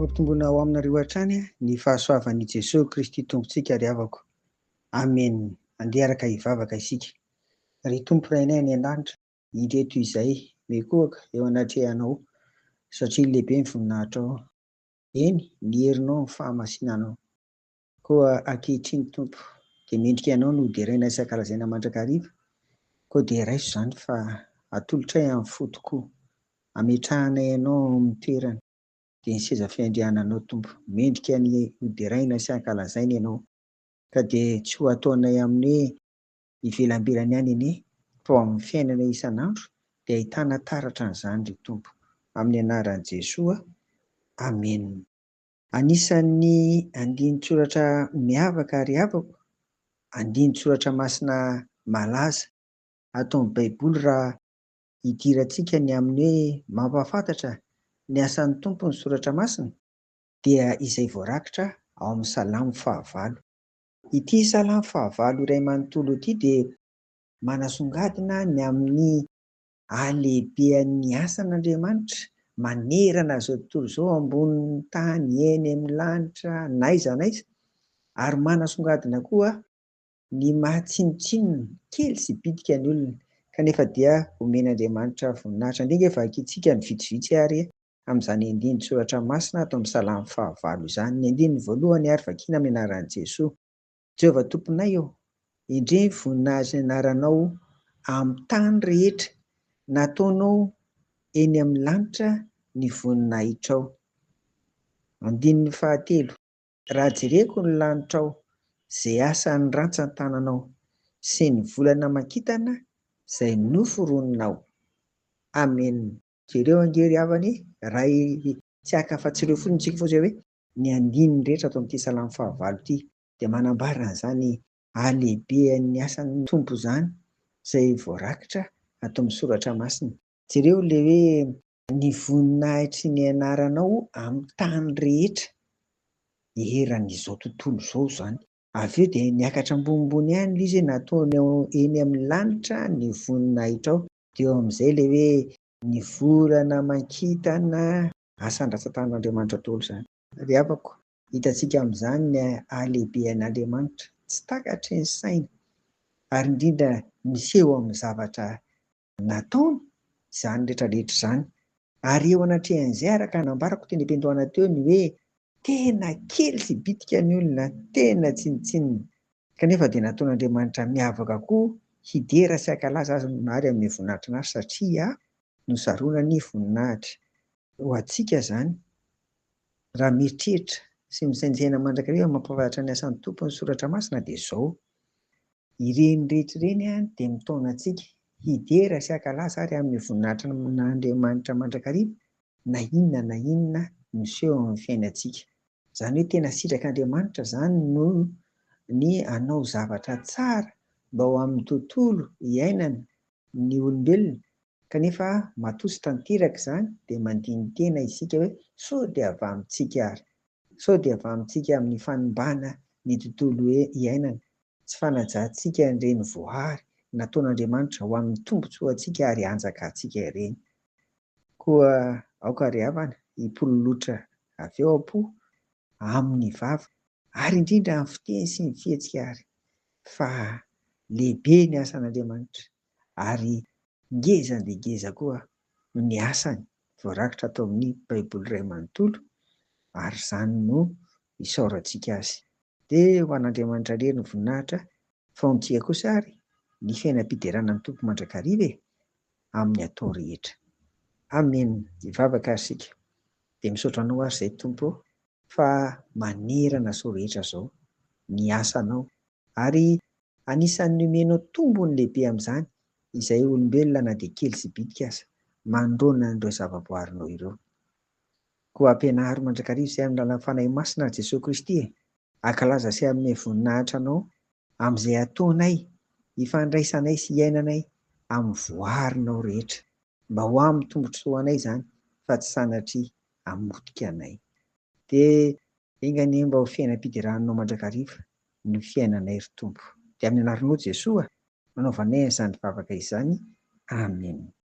Hampitomboina ao aminareo hatrany ny fahasoavan'i Jesoa Kristy Tompontsika ry havako. Amen. Andeha araka hivavaka isika. Ry Tompo Rainay any an-danitra, ireto izay mikohaka eo anatrehanao satria lehibe ny voninahitrao. Eny, ny herinao amin'ny fahamasinanao. Koa ankehitriny, Tompo, dia mendrika Ianao no hoderaina isan-kalazaina mandrakariva, koa dia raiso izany fa atolotray amin'ny fo tokoa, ametrahanay Ianao ao amin'ny toerany, dia ny seza fiandriananao, Tompo, mendrika ny hoderaina sy hankalazaina Ianao, ka dia tsy ho ataonay amin'ny hoe ivelambilany any anie, fa ao amin'ny fiainanay isan'andro dia ahitana taratra an'izany, ry Tompo, amin'ny anaran'i Jesoa, amena. Anisan'ny andinin-tsoratra miavaka ary havako, andinin-tsoratra masina malaza. Ataon'ny Baiboly raha idirantsika ny amin'ny hoe mampahafantatra ny asan'ny Tompo ny soratra masina, dia izay voarakitra ao amin'ny Salamo fahavalo. Ity Salamo fahavalo iray manontolo ity dia manasongadina ny amin'ny Halehibehan'ny asan'Andriamanitra manerana izao tontolo izao ambonin'ny tany, eny amin'ny lanitra, n'aiza n'aiza, ary manasongadina koa ny maha tsinontsinona, kely sy bitika ny olona, kanefa dia omen'Andriamanitra voninahitra. Andeha ange vakintsika ny vitsivitsy ary amin'izany andinin-tsoratra masina ato amin'ny Salamo fahavalo izany. Ny andininy voalohany ary vakina amin'ny anaran'i Jesoa. Jehovah Tomponay ô, endrey ny voninahitr'ny anaranao amin'ny tany rehetra, nataonao eny amin'ny lanitra ny voninahitrao. Andininy fahatelo. Raha jereko ny lanitrao, izay asan'ny rantsan-tananao, sy ny volana aman-kintana izay noforoninao. Amena. Jereo ange ry havana e, raha tsy haka afa-tsy ireo fotsiny isika fa izay hoe Ny andininy rehetra ato amin'ity salamo fahavalo ity dia manambara an'izany halehibehan'ny asan'ny Tompo izany izay voarakitra ato amin'ny soratra masina. Jereo ilay hoe ny voninahitry ny anaranao amin'ny tany rehetra eran'izao tontolo izao izany. Avy eo dia niakatra ambonimbony ihany ilay izy hoe nataonao eny amin'ny lanitra ny voninahitrao. Dia eo amin'izay ilay hoe ny volana aman-kintana asandrasatan'Andriamanitra daholo izany. Ry havako, hitantsika amin'izany ny halehibehan'Andriamanitra tsy takatry ny saina ary indrindra miseho amin'ny zavatra nataony izany rehetra rehetra izany. Ary eo anatrehan'izay, araka nambarako teny am-piandohana teo ny hoe tena kely sy bitika ny olona, tena tsinontsinona Kanefa dia nataon'Andriamanitra miavaka koa hidera sy hankalaza Azy ny Mary amin'ny voninahitr'Anahy satria nosarona ny voninahitry. Ho antsika izany, raha mieritreritra sy misaintsaina mandrakariva amin'ny mampahafantatra ny asan'ny Tompo ny Soratra Masina dia izao, Ireny rehetra ireny dia mitaona antsika hidera sy hankalaza ary amin'ny voninahitr'Andriamanitra mandrakariva na inona na inona miseho amin'ny fiainantsika. Izany hoe tena sitrak'Andriamanitra izany no ny hanao zavatra tsara mba ho amin'ny tontolo iainana ny olombelona kanefa matoa tsy tanteraka izany dia mandini-tena isika hoe sao dia avamintsika ary? Sao dia avamintsika amin'ny fanimbana ny tontolo iainana? Tsy fanajantsika ireny voary nataon'Andriamanitra ho amin'ny tombontsoantsika ary hanjakantsika ireny. Koa aoka ry havana hipololotra avy ao am-po, amin'ny vava, ary indrindra amin'ny fiteny sy ny fihetsika àry, fa lehibe ny asan'Andriamanitra, ary ngeza dia ngeza koa ny asany voarakitra ato amin'ny Baiboly iray manontolo, ary izany no isaorantsika azy. Dia ho an'Andriamanitra irery ny voninahitra, fa ho antsika kosa àry ny fiainam-piderana amin'ny Tompo mandrakariva e! amin'ny atao rehetra. Amen! Hivavaka ary isika. Dia misaotra Anao ary izay Tompo ô, fa manerana izao rehetra izao ny asanao, ary anisan'ny nomenao tombony lehibe amin'izany izay olombelona na dia kely sy bitika aza, manoloana an'ireo zavaboarinao ireo. Koa ampianaro mandrakariva izay amin'ny alalan'ny Fanahy Masina ry Jesoa Kristy e! Ankalaza sy hanome voninahitra Anao amin'izay ataonay, ifandraisanay sy iainanay amin'ny voarinao rehetra. Mba ho amin'ny tombotsoa anay izany fa tsy sanatria hamotika anay. Dia enga anie mba ho fiainam-piderànao mandrakariva ny fiainanay ry Tompo. Dia amin'ny anaranao Jesoa no anaovanay an'izany vavaka izany. Amena.